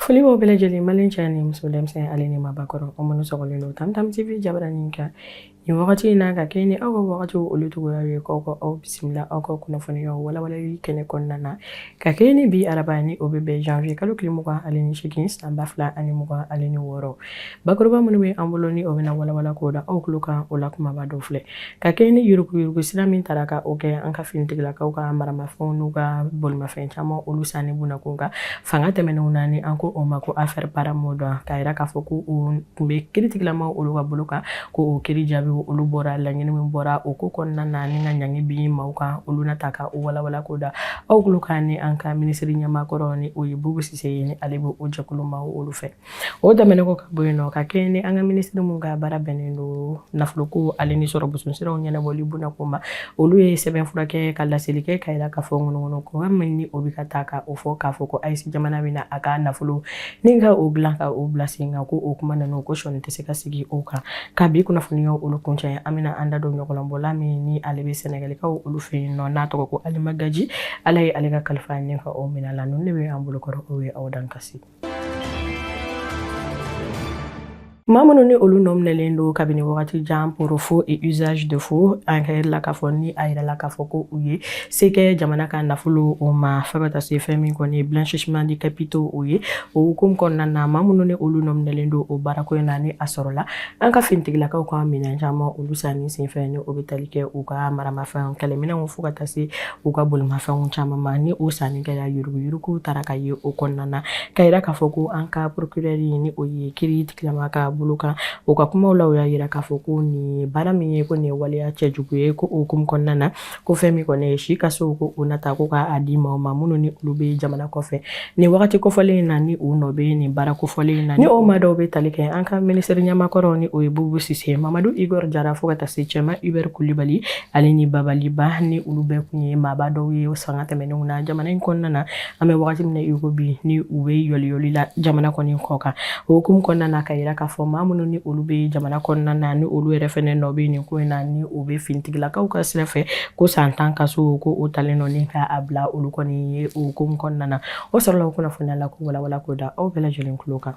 foli b'aw bɛɛ lajɛlen malien cɛ ni muso denmisɛn ale ni maabakɔrɔ o minnu sɔgɔlen don tamtam tv jabaranin kan nin wagati in na ka kɛɲɛ ni aw ka wagatiw olu cogoya ye k'aw ka aw bisimila aw ka kunnafoniyaw walawalali kɛnɛ kɔnɔna na ka kɛɲɛ ni bi araba ni o bɛ bɛn janvier kalo tile mugan ale ni segin san ba fila ani mugan ale ni wɔɔrɔ Bakuruba minnu bɛ an bolo ni o bɛna walawala k'o da aw tulo kan o la kumaba dɔ filɛ ka kɛ ni yuruguyurugu sira min taara ka o kɛ an ka finitigilakaw ka maramafɛn n'u ka bolimafɛn caman olu sanni kunna ko kan fanga tɛmɛnenw na ni an ko o ma ko affaire paramount ka yira k'a fɔ ko o tun bɛ kiritigilamaw olu ka bolo kan ko o kiri jaabi olu bɔra laɲini min bɔra o ko kɔnɔna na ni ka ɲangi bin maaw kan olu na ta ka o walawala k'o da aw tulo kan ni an ka minisiri ɲɛmaakɔrɔ ni o ye bubu sise ye ale bɛ o jɛkulu maaw olu fɛ o tɛmɛnen kɔ ka bɔ yen nɔ ka kɛɲɛ ni an ka minisiri min ka baara bɛnnen don nafoloko ale ni sɔrɔ bosomisiraw ɲɛnabɔli buna ko ma olu ye sɛbɛnfura kɛ ka laseli kɛ ka yira k'a fɔ ŋunuŋunukan min ni o bɛ ka taa ka o fɔ k'a fɔ ko aes jamana bɛna a ka nafolo ni ka o dilan ka o bila sen kan ko o kuma ninnu ko sɔni tɛ se ka sigi o kan ka bi kunnafoniyaw olu kuncɛ an bɛna an da don ɲɔgɔlɔnbɔla min ni ale bɛ sɛnɛgalikaw olu fɛ yen nɔ n'a tɔgɔ ko alima gaji ala ye ale ka kalifa ɲɛ ka o minɛ la ninnu de bɛ an bolokɔrɔ o ye aw dan kasi Maa minnu ni olu nɔ minɛlen don kabini wagati jan pour faux et usage de faux an ka la k'a fɔ ni a yirala k'a fɔ ko u ye se kɛ jamana ka nafolo o ma fo ka taa se fɛn min kɔni ye blanchissement de capitaux o ye o hukumu kɔnɔna na maa minnu ni olu nɔ minɛlen don o baarako in na ni a sɔrɔla an ka finitigilakaw ka minɛn caman olu sanni senfɛ ni o bɛ tali kɛ u ka maramafɛn kɛlɛminɛnw fo ka taa se u ka bolimafɛnw caman ma ni o sanni kɛra yuruguyuruguw taara ka ye o kɔnɔna na ka yira k'a fɔ ko an ka porokirɛri ni o ye kiritigilama ka bolo kan o ka kumaw la u y'a yira k'a fɔ ko nin baara min ye ko nin ye waleya cɛjugu ye ko o hukumu kɔnɔna na ko fɛn min kɔni ye si kaso ko o na ta ko k'a di maaw ma minnu ni olu bɛ jamana kɔfɛ nin wagati kofɔlen in na ni u nɔ bɛ nin baara kofɔlen in na ni o maa dɔw bɛ tali kɛ an ka minisiri ɲɛmaakɔrɔ ni o ye bubu sise mamadu igor jara fo ka taa se cɛman ibɛri kulibali ale ni babali ba ni olu bɛɛ kun ye maaba dɔw ye fanga tɛmɛnenw na jamana in kɔnɔna na an bɛ wagati min na i ko bi ni u bɛ yɔliyɔli la jamana kɔni kɔ kan o hukumu kɔnɔna na ka yira k'a fɔ maa minnu ni olu bɛ jamana kɔnɔna na ni olu yɛrɛ fɛnɛ nɔ bɛ nin ko in na ni u bɛ finitigilakaw ka sira fɛ ko san tan kaso ko o talen don ni ka a bila olu kɔni ye o hukumu kɔnɔna na o sɔrɔla o kunnafoniya la k'o walawala k'o da aw bɛɛ lajɛlen tulo kan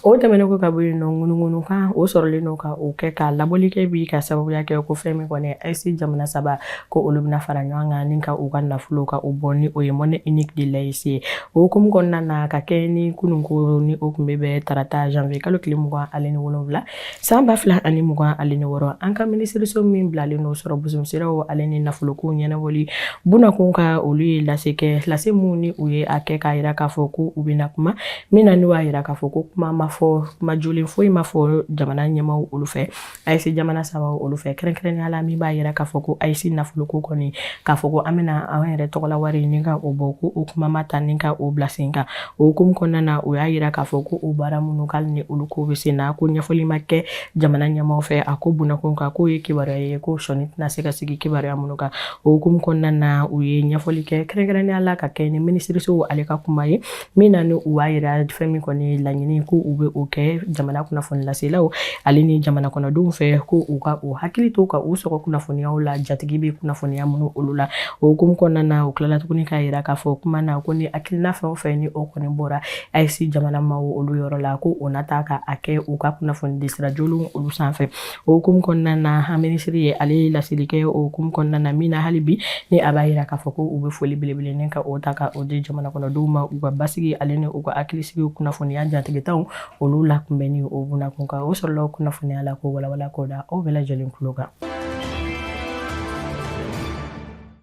o tɛmɛnen kɔ ka bɔ yen nɔ ŋunuŋunukan o sɔrɔlen don ka o kɛ ka labɔli kɛ bi ka sababuya kɛ ko fɛn min kɔni aes jamana saba ko olu bɛna fara ɲɔgɔn kan ni ka u ka nafolo ka o bɔ ni o ye monnaie unique de l'aes ye o hukumu kɔnɔna na ka kɛ ni kunun ko ni o tun bɛ bɛn tarata janvier kalo tile mugan ale ni wolonwula San ba fila ani mugan ale ni wɔɔrɔ an ka minisiriso min bilalen don sɔrɔ bɔsiraw ale ni nafolokow ɲɛnabɔli bunakun kan olu ye lase kɛ lase minnu ni u ye a kɛ k'a jira k'a fɔ ko u bɛ na kuma min na n'u y'a jira k'a fɔ ko kuma ma fɔ kuma jolen foyi ma fɔ jamana ɲɛmaaw olu fɛ AES jamana saba olu fɛ kɛrɛnkɛrɛnnenya la min b'a jira k'a fɔ ko AES nafoloko kɔni k'a fɔ ko an bɛna an yɛrɛ tɔgɔla wari ni ka o bɔ ko o kuma ma ta ni ka o bila sen kan O hukumu kɔnɔna na o y'a yira k'a fɔ ko o baara minnu k'ale ni olu ko bɛ sen na ko ɲɛfɔli ma kɛ jamana ɲɛmaaw fɛ a ko bunakun kan k'o ye kibaruya ye ko sɔnni tɛna se ka sigi kibaruya minnu kan o hukumu kɔnɔna na u ye ɲɛfɔli kɛ kɛrɛnkɛrɛnnenya la ka kɛ ni minisiriso ale ka kuma ye min na ni u b'a yira fɛn min kɔni laɲini ko u bɛ o kɛ jamana kunnafoni laselaw ale ni jamana kɔnɔdenw fɛ ko u ka u hakili to ka u sɔgɔ kunnafoniyaw la jatigi bɛ kunnafoniya minnu olu la o hukumu kɔnɔna na u tilala tuguni k'a yira k'a fɔ kuma na ko ni hakilina fɛn o fɛn ni o kɔni bɔra AES jamana maaw olu yɔrɔ la ko o na taa ka a kɛ u ka kunnafoni di sira jolenw olu sanfɛ o hukumu kɔnɔna na an minisiri ye ale laseli kɛ o hukumu kɔnɔna na min na hali bi ni a b'a yira k'a fɔ ko u bɛ foli belebele ni ka o ta ka o di jamana kɔnɔdenw ma u ka basigi ale ni u ka hakilisigi kunnafoniya jatigitaw olu la kunbɛnni o bunakun kan o sɔrɔla kunnafoniya la k'o walawala k'o da aw bɛɛ lajɛlen tulo kan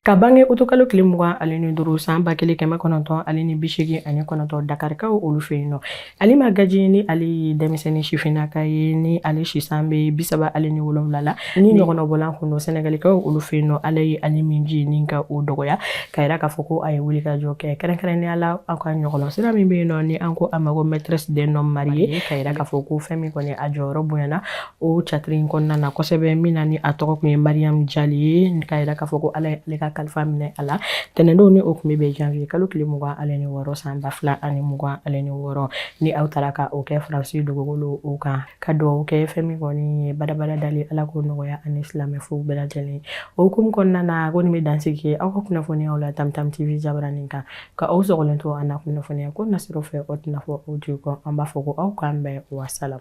ka bange utikalo tile mugan ale ni duuru san ba kelen kɛmɛ kɔnɔntɔn ale ni bisegin ani kɔnɔntɔn dakarikaw olu fɛ yen nɔ Alima Gaji ni ale ye denmisɛnnin sifinnaka ye ni ale si san bɛ bisaba ale ni wolonwula la Ni ɲɔgɔlɔnbɔla kun don sɛnɛgalikaw olu fɛ yen nɔ Ala ye ale minji ni ka o dɔgɔya ka jira k'a fɔ ko a ye wuli ka jɔ kɛ kɛrɛnkɛrɛnnenya la aw ka ɲɔgɔlɔn sira min bɛ yen nɔ ni an ko a ma ko Maîtresse d'un homme marié ka jira k'a fɔ ko fɛn min kɔni a jɔyɔrɔ bonyana o catiri in kɔnɔna na kosɛbɛ min na ni a tɔgɔ tun ye Mariam Jali ye ka jira k'a fɔ ko Ala y'ale ka kalifa minɛ a la tɛnɛndon ni o tun bɛ bɛn janwiye kalo tile mugan ale ni wɔɔrɔ san ba fila ani mugan ale ni wɔɔrɔ ni aw taara ka o kɛ Faransi dugukolo o kan ka dugawu kɛ fɛn min kɔni ye badabada dali Ala k'o nɔgɔya ani silamɛ fo bɛɛ lajɛlen o hukumu kɔnɔna na ko nin bɛ dansigi aw ka kunnafoniyaw la tamtam tv jabaranin kan ka aw sɔgɔlen to an na kunnafoniya ko nasiraw fɛ o tɛna fɔ aw jigi kɔ an b'a fɔ ko aw k'an bɛn wasalam